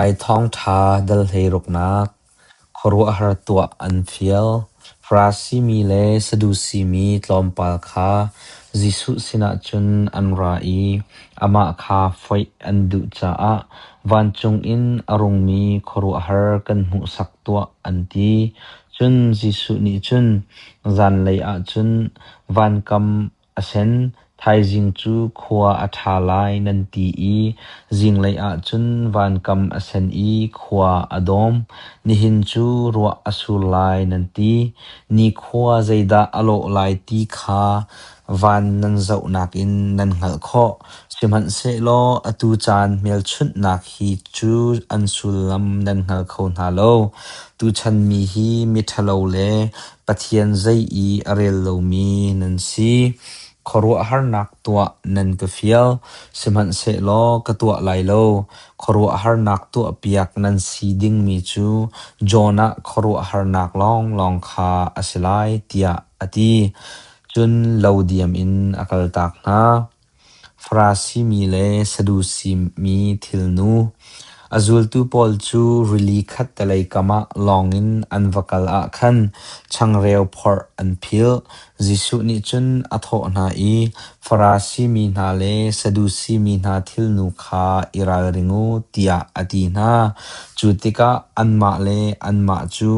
Ai thawngṭha dal-hlei ruknak, khuaruahhar tuah an fial. Farasi mi le Sadusi mi tlawmpal kha Jesuh sinah cun an ra i amah kha foih an duh caah vancung in a rungmi khuaruahhar kan hmuhsak tuah an ti. Cun Jesuh nih cun, Zanlei ah cun van kam Asen thaizing cu khua a ṭha lai nan ti i zinglei ah cun vankam a sen i khua a dawm. Nihin cu ruah a sur lai nan ti. Nikhua zeidah a lawh lai ti kha van nan zohnak in nan hngalh khawh. Sihmanhsehlaw atu caan hmelchunhnak hi cu an sullam nan hngal kho hna lo. Tuchan mi hi miṭhalo le Pathian zei i a rel lomi nan si. Khuaruahharnak tuah nan ka fial, sihmanhsehlaw ka tuah lai lo. Khuaruahharnak tuahpiak nan si dingmi cu Jonah khuaruahharnak lawnglawng kha a si lai, tiah a ti. Cun lo diam in a kaltak hna. Farasi mi le Sadusi mi thilnu, a zultu pawl cu rili khattelei kamah lawngin an va kal ah khan changreu phorh an philh. Jesuh nih cun a thawh hna i, Farasi mi hna le Sadusi mi hna thilnu kha i ralring u, tiah a ti hna. Cu tikah anmah le anmah cu,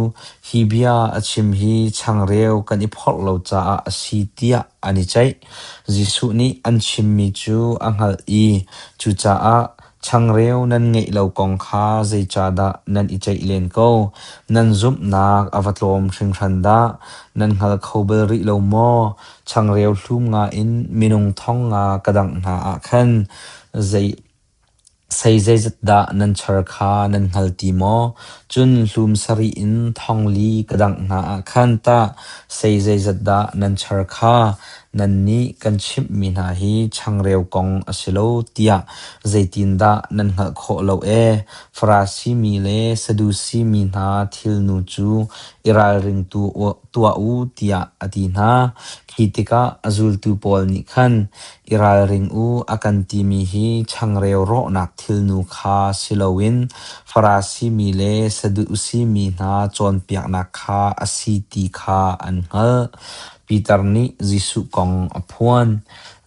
Hi bia a chim hi changreu kan i phorh lo caah a si, tiah an i ceih. Jesuh nih an chimmi cu a hngalh i cucaah changreu nan ngeih lo kong kha zeicahdah nan i ceih len ko? Nan zumhnak a va tlawm hringhran dah! Nan hngal kho bal rih lo maw? Changreu hlum nga in minung thong nga ka dangh hna ah khan zei Sei zeizat dah nan char kha nan hngal ti maw? Cun hlum sarih in thongli ka dangh hna ah khan tah sei zeizat dah nan char kha nannih kan chimhmi hna hi changreu kong a si lo tiah zeitindah nan hngalh khawh lo ee? Farasi mi le Sadusi mi hna thilnu cu i ralringtu u. tuah u tiah a ti hna. Khi tikah a zultu pawl nih khan i ralring u a kan timi hi changreu rawhnak thilnu kha si loin Farasi mi le Sadusi mi hna cawnpiaknak kha a si ti kha an hngalh. Piter nih Jesuh kong a phuan.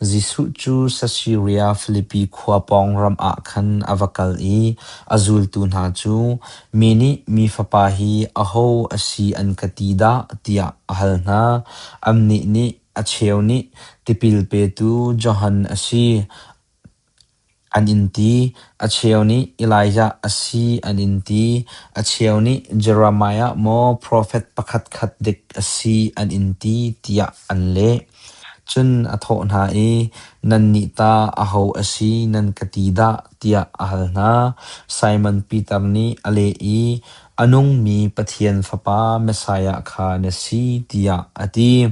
Jesuh cu Sasiria Filipi khua pawng ram ah khan a va kal i a zultu hna cu, “Mi nih Mi Fapa hi aho a si an ka ti dah?” tiah a hal hna. Annih nih, “A cheu nih, ‘Tipil petu Johan a si,’ An in ti, a cheu nih Elijah a si an in ti, a cheu nih Jeremiah maw profet pakhat khat dik a si an in ti tiah an leh. Cun a thawh hna i, “Nannih ta aho a si nan ka ti dah?” tiah a hal hna. Simon Piter nih a leh i, A nungmi Pathian Fapa Messiah kha na si tiah a ti.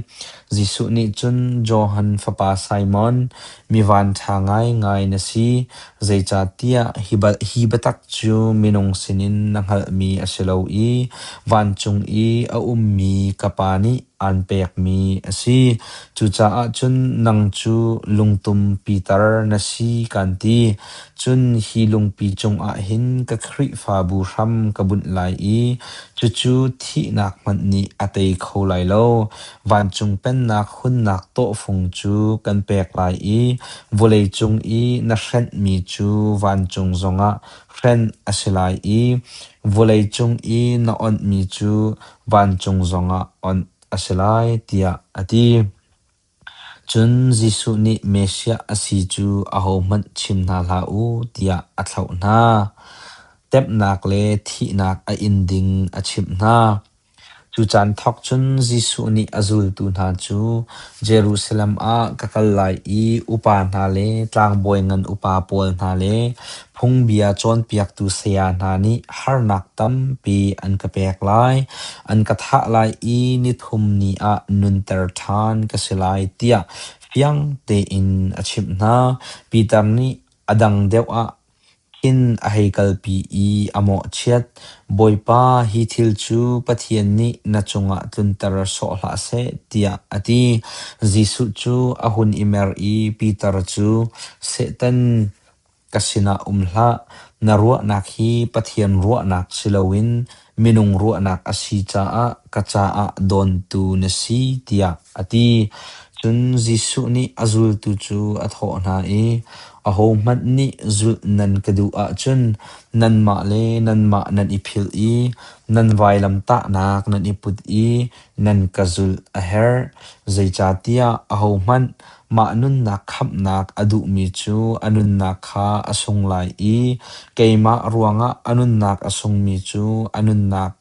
Jesuh nih cun Johan fapa Simon, mi vanṭha ngaingai na si, zeicahtiah hi biatak cu minung sinin na hngalhmi a si lo i vancung i a ummi ka Pa nih aan pekmi a si. Cucaah cun nang cu lungtum Piter na si, kan ti. Cun hi lungpi cungah hin ka Khrihfabu hram ka bunh lai i cucu thihnak hmanh nih a tei kho lai lo. Vancung pennak hunnak tawhfung cu kan pek lai i vawleicung i na hrenhmi cu vancung zongah hrenh a si lai i vawleicung i na onhmi cu vancung zongah onh a si lai, tiah a ti. Cun Jesuh nih Messiah a si cu ahohmanh chim hna hlah u tiah a thlauh hna. Temhnak le thihnak a in ding a chimh hna. Cu caan thawk cun Jesuh nih a zultu hna cu Jerusalem ah ka kal lai i upa hna le tlangbawi ngan upa pawl hna le Phungbia cawnpiaktu saya hna nih harnak tampi an ka pek lai. An ka thah lai i nithum ni ah nunter ṭhan ka si lai tiah fiang tein a chimh hna. Peter nih a dang deuh ah khin a hei kalpi i a mawhchiat, “Bawipa, hi thil cu Pathian nih na cungah tlunter sawh hlah seh,” tiah a ti. Jesuh cu a hun i mer i Peter cu, “Satan, Ka sinah um hlah, na ruahnak hi Pathian ruahnak si loin minung ruahnak a si caah ka caah dawntu na si tiah a ti. Cun Jesuh nih a zultu cu a thawh hna i, Ahohmanh nih zulh nan ka duh ahcun nanmah le nanmah nan i philh i nan vailamtahnak nan i put i nan ka zulh a herh. Zeicahtiah ahohmanh Mah nunnak khamhnak a duhmi cu a nunnak kha a sung lai i keimah ruangah a nunnak a sungmi cu a nunnak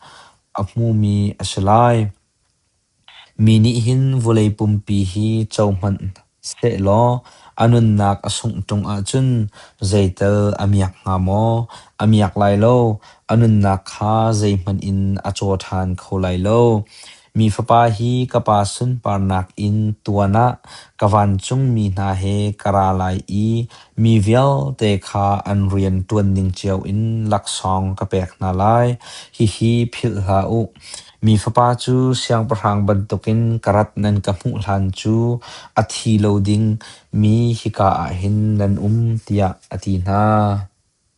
a hmumi a si lai. Mi nih hin vawlei pumpi hi co hmanh sehlaw a nunnak a sungh ṭung ahcun zeital a miak hnga maw? A miak lai lo. A nunnak kha zeihmanh in a caw ṭhan kho lai lo. Mi fapa hi ka pa sunparnak in tuan ah ka vancungmi hna he ka ra lai i mi vialte kha an rian ṭuan ning cio in laksawng ka pek hna lai. Hihi philh hlah u. Mi fapa cu siangpahrang bantukin ka rat nan ka hmuh hlan cu a thi lo ding mi hika ah hin nan um, tiah a ti hna.